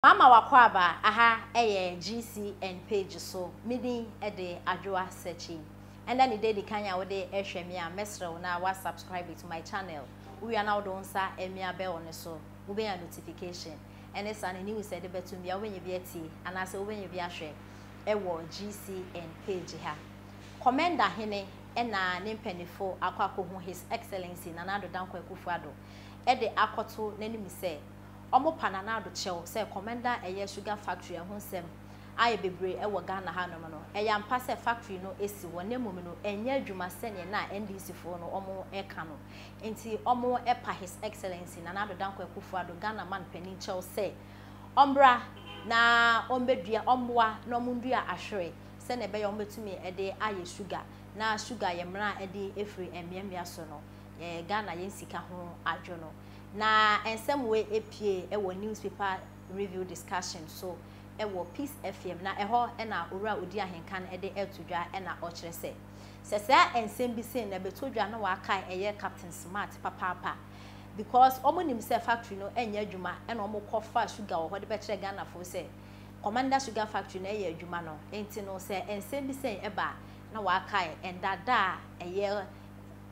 Mama wakɔ aba, aha yɛ GCN page so, me din de Adwoa Searchy. Ɛnɛ ne da edikan a wode ɛhwɛ me a, mɛsrɛ wo na wa subscribe to my channel, wowia na wode wo nsa ɛmia bell no so, wobɛnya notification, ɛne saa ne news a ɛde bɛtom bia wobɛnya bi atie anaasɛ wobɛnya bi ahwɛ ɛwɔ GCN page ha. Kɔmɛnda hene ɛna ne mpɛnifo akɔ akɔhu His Excellency Nana Addo Dankwa Akufo-Addo ɛde akɔto n'anim sɛ, Ɔmo pa Nanado kyɛw sɛ kɔmɛnda a ɛyɛ sugar factory ɛho nsɛm ayɛ bebree ɛwɔ Ghana ha nom no ɛyɛ ampa sɛ factory no ɛsi hɔ na mmom no ɛnyɛ adwuma sɛneɛ na NDC foɔ no ɔmo ɛka no nti ɔmo ɛpa His Excellency Nana Addo Dankwa Akuffo Addo Ghana man panin kyɛw sɛ ɔmbra na ɔmbɛdua ɔmmoa na ɔmo ndua ahwere sɛneɛ ɛbɛyɛ ɔmo bɛtumi ɛde ayɛ sugar na sugar yɛ mena ɛde ɛfiri ɛmmeammea so no yɛ Ghana yɛn sika ho adwo no Na nsɛm wei pue wɔ Newspaper Review Discussion so wɔ Peace FM, na ɛhɔ na Owura Odi Ahenka no de reto dwa na ɔkyerɛ sɛ, sɛ saa nsɛm bi sei na ɛbɛtɔ dwa na wɔakae ɛyɛ Captain Smart papaapa because wɔn nim sɛ factory no nyɛ adwuma na wɔn kɔ fa sugar wɔ hɔ de bɛkyerɛ Ghanafoɔ sɛ Commander Sugar Factory no yɛ adwuma no nti no sɛ nsɛm bi sei ba a na wɔakae ɛnda da a ɛyɛ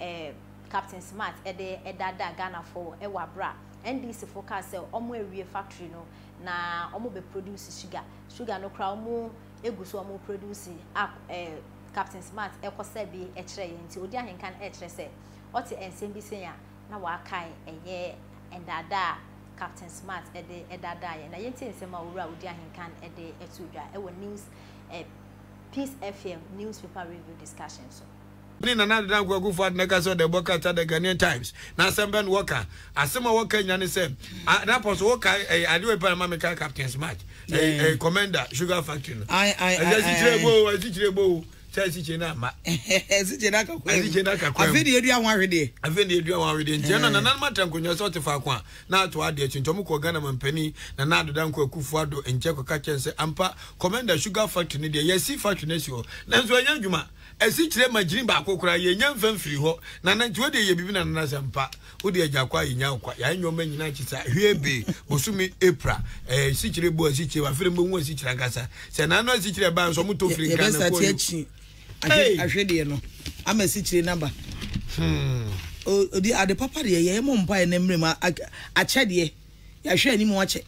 eh, Captain Smart de daadaa Ghanafoɔ wɔ aberɛ a NDC foɔ kaa sɛ wɔn awie factory no na wɔn bɛ produce sugar, sugar no koraa wɔn gu so wɔn produce a eh, Captain Smart kɔsa bi kyerɛ yɛn nti odi ahenka no kyerɛ sɛ ɔte nsɛm bi sɛn a na wakae ɛyɛ ndaadaa a Captain Smart de daadaa yɛn na yɛntie nsɛm a Owura Odi Ahenka no de to dwa wɔ news eh, Peace FM Newspaper Review Discussion so. ne Nana Ade Dankwa Akufo Addo na ɛka sɛ ɔda ɛbɔ ka ta The Ghanaian Times na asɛm bɛn na wɔka? Asɛm a wɔka nya ne sɛ, ah, na pɔ so woka ɛyɛ eh, adeɛ pa ma meka Captain's Match, ɛyɛ eh, eh, Commander Sugar Factory no. Ai, ai, ai, ai, ai. Ɛsɛ o, ɛsikyire bo o sɛ asikyire no ama asikyire no akakɔ asikyire no akakɔ afei de yɛdua ho ahwedeɛ afei de yɛdua ho ahwedeɛ nti ɛna nananom atra nkonnwa sɛ ɔte faako a na ato adeɛ akyi nti ɔmokɔ ghana mampani na na adoda nkɔ akufo ado nkyɛ kɔka kyɛn sɛ ampa commander sugar factory no deɛ yɛasi factory no asi hɔ nanso ɛnyɛ adwuma Asikyire ma gyini baako koraa yɛnya mfa mfiri hɔ nana nti wodeɛ yɛ biribi nana nasɛ mpa wode agya kɔ a yɛnya kwa yɛayɛ nneɛma nyina akyi saa hwee bee bosome April ɛɛ asikyire bɔ asikyire wafere mbɛhu asikyire ankasa sɛ nana no asikyire ɛbaa nso ɔmo tɔ firi nkan na kɔɔ akyi ahwe deɛ no ama asikyire naba hmm. odi ade papa deɛ yɛyɛ mo mpaeɛ na mmerɛ mu akyɛdeɛ Yɛahwɛ anim akyɛ.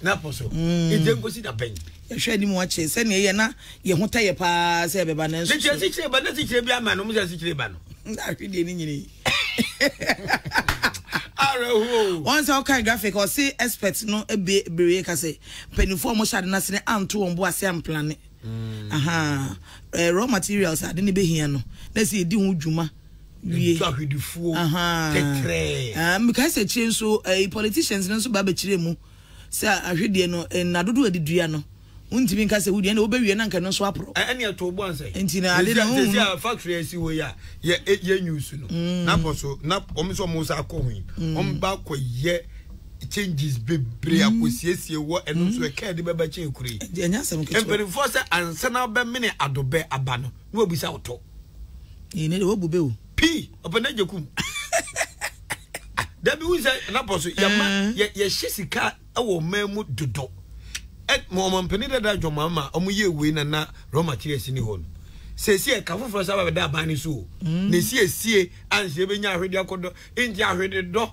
N'apɔ so. Mm. Egye nkosi da bɛn? Yɛhwɛ anim akyɛ sɛnea ɛyɛ na yɛn ho tɛ yɛ paa sɛ ɛbɛba nanso. Ne kyerɛ sikyire ba na sikyire bi ama no mo sɛ sikyire ba no. Na ahwe deɛ ne nyini. Awerɛhoɔ. Wɔn sɛ ɔkan graphic ɔse expert no ebe bere ka sɛ mpanimfoɔ a wɔhyɛ ade no ase no anto wɔn bo ase amplane. Mm. Aha. Eh, raw materials ade ne behia no na sɛ yɛdi ho dwuma. wie ɛtwa hwedifuo tɛtrɛɛ mekae sɛ akyire nso eh, politicians no nso ba bɛkyerɛ mu sɛ ahwedeɛ no eh, nna dodoɔ ɛde dua no wontumi nka sɛ wodeɛ ɛna wobɛwie na nka no nso aporɔ ɛne eh, ɛtoo boa nsɛ nti na ade no sɛsi a factory asi hɔ yi a yɛ news no mm. na kɔ so na ɔm sɛ ɔmo sa akɔ ho yi mm. ɔm ba kɔ yɛ changes bebree mm. akosiesie wɔ ɛno nso ɛka ɛde bɛbɛ kyɛn kure yi mpanimfoɔ sɛ ansana bɛmene adobɛ aba no na wabisa wo tɔ. Ee ne de wagu be o. Pii ɔpɛ na gye kum. Dabi wo sɛ na pɔ so yɛ ma mm. yɛ yɛ hye sika ɛwɔ ɔman mu dodo. Ɛ mo ɔman panyin dada adwuma ma ɔmo yɛ wei na na raw materials ni hɔ no. Sɛsi ɛka foforɔ sábà bɛda aban ne so o. Mm. Na esiesie ansi ebenya ahwedeɛ akɔdɔ nti ahwededɔ.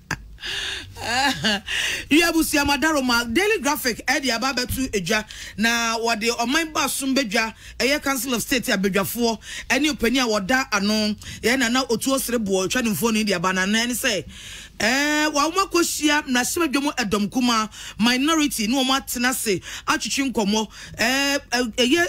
Wi abusua mu adaro ma Daily Graphic de aba abɛto dwa, na wɔde ɔman baason badwa, ɛyɛ Council of State abadwafoɔ ne ɔpanin a wɔda ano yɛ Nana Otu Osireboɔ retwa ne mfonin de aba. Nana ne sɛ ɛɛ wɔn akɔhyia mmarahyɛbadwam ɛdɔm kumaa, minority, ne wɔn atena ase atwetwe nkɔmmɔ. Ɛɛ ɛyɛ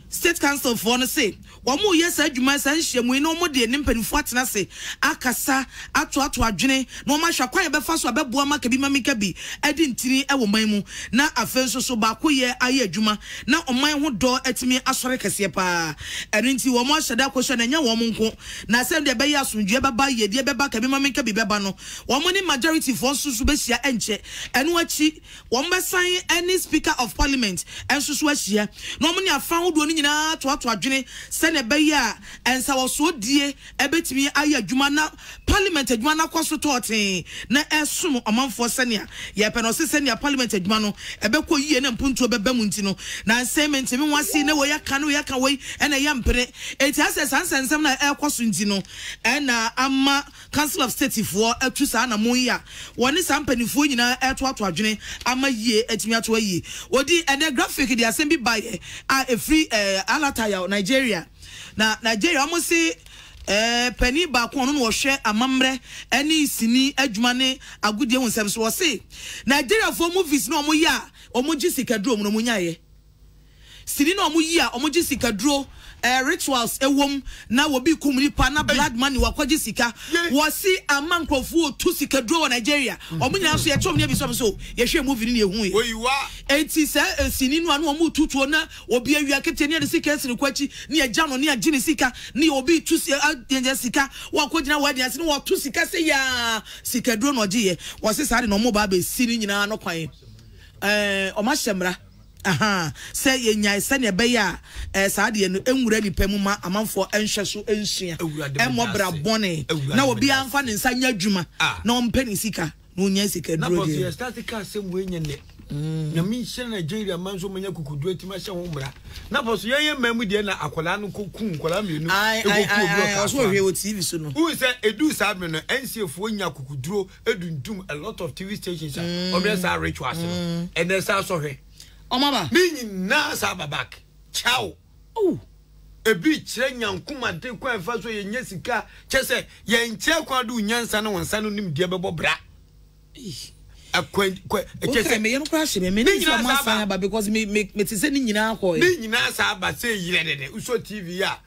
State Councilfoɔ no se Wɔreyɛ saa adwuma yi, saa nhyiamu yi, na wɔde ne mpanimfoɔ atena ase akasa, atoato adwene, na wɔahwɛ akwan a yɛbɛfa so abɛboa ama kabimamikabi adi ntini wɔ man mu, na afei nso so baakoyɛ ayɛ adwuma, na ɔman ho dɔ atumi asɔre kɛseɛ pa ara. Ɛno nti, wɔahyɛ da akɔhyia no, ɛnyɛ wɔn nko, na sɛdeɛ ɛbɛyɛ a asomdwoeɛ bɛba, yiedie bɛba, kabimamikabi bɛba no, wɔne majorityfoɔ nso so bɛhyia, ɛnkyɛ ɛno akyi, Wɔbɛsan ne Speaker of Parliament nso so ahyia na wɔne afã ahodoɔ no nyinaa atoato adwene sɛdeɛ ɛbɛyɛ a nsawɔsoɔdie bɛtumi ayɛ adwuma na Parliament adwuma no akɔ so tɔɔtee na ɛresom ɔmanfoɔ sɛdeɛ yɛpɛ no. Ɔse sɛdeɛ Parliament adwuma no ɛbɛkɔ yie na mpuntuo bɛba mu nti no, nanse mentumi nwase na wei aka na wei aka wei na ɛyɛ mpene. Enti asɛ saa nsɛnsɛm no a ɛrekɔ so nti no na ama Council of State foɔ atu saa anamon yi a wɔne saa mpaninfoɔ nyinaa retoato adwene ama yie atumi ato ayi odin. Ɛnɛ graphic de asɛm bi baeɛ a ɛfiri Alatayaw, Nigeria. Na Nigeria wɔn se panin baako a ɔno na ɔhwɛ amammerɛ ne sini adwuma ne agodie ho nsɛm so, ɔse Nigeriafoɔ movies no a wɔyɛ a wɔgye sikaduro mu no wɔnyaeɛ. Sini na ɔmo yi a ɔmo gye sika duro ɛɛ rituals ɛwom na wɔ bi kum nipa na blood money wɔ akɔ gye sika wɔ si ama nkorɔfoɔ otu sika duro wɔ Nigeria ɔmo nyinaa nso yɛ kyerɛ ɔmo ne abisua ɔmo nso yɛ hwɛ movie no na yɛ hu yɛ ɛnti saa ɛsini no a na ɔmo tu tuo na obi awia keteɛ ne yɛ de sika ɛsi ne kɔ akyi ne yɛ gya no ne yɛ gye ne sika ne yɛ obi tu si ɛ yɛ yɛ sika wɔ akɔ gyina wedding ase ne wɔ to sika se yaa sika duro na ɔgye yɛ wɔ se saa de na ɔmo ba abɛ si ne nyinaa no kwan ɛɛ ɔmo ahyɛ mmra. Ahaa, sɛ yɛnyae sɛnea ɛbɛyɛ a ɛɛ saa adeɛ no nwura nnipa mu ma amanfoɔ nhwɛ so nsua, mmɔ bra bɔne, na obiara mfa ne nsa nyɛ adwuma na ɔmpɛ ne sika na ɔnya sika duro deɛ. Na bɔso yɛ start ka asɛm wei nyɛ nnɛ. Nyame nhyira Nigeria man so manya kukuduro nti mahyɛ ho mmara. Na bɔso yɛn yɛ mmaa mu deɛ na akwadaa no kɔ kum nkwadaa mmienu ɛkɔ kuo bi wɔ kasoa no. Wohu sɛ ɛduu saa bere no NCAfoɔ nya kukuduro edundum a lot of tv stations a mm. ɔmo yɛ saa rituals no mm. ɛnɛ saa sɔhwɛ ɔmo aba ne nyinaa saa aba back kyaw oh. ebi kyerɛ nyankoma de kwan fa so yɛnyɛ sika kyɛ sɛ yɛnkyerɛ kwan de onyansa ne wɔn nsa no nim deɛ bɛbɔ bra ne nyinaa saa aba sɛ yerɛ dɛdɛ wosɔ tv a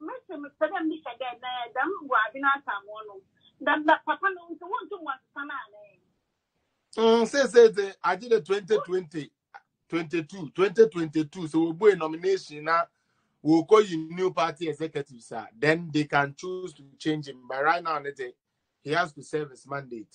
mese mepɛ dɛ misa dɛ na dɛm mboadze no asamoa no dɛ na papa no ntsi wonntum wɔnnsesa no anaa? Mm, seesei dze agye dɛ 2020 22 2022 sɛ wɔbue nomination na wɔkɔyi new party executives a then they can choose to change him but right now ne dze he has to serve his mandate.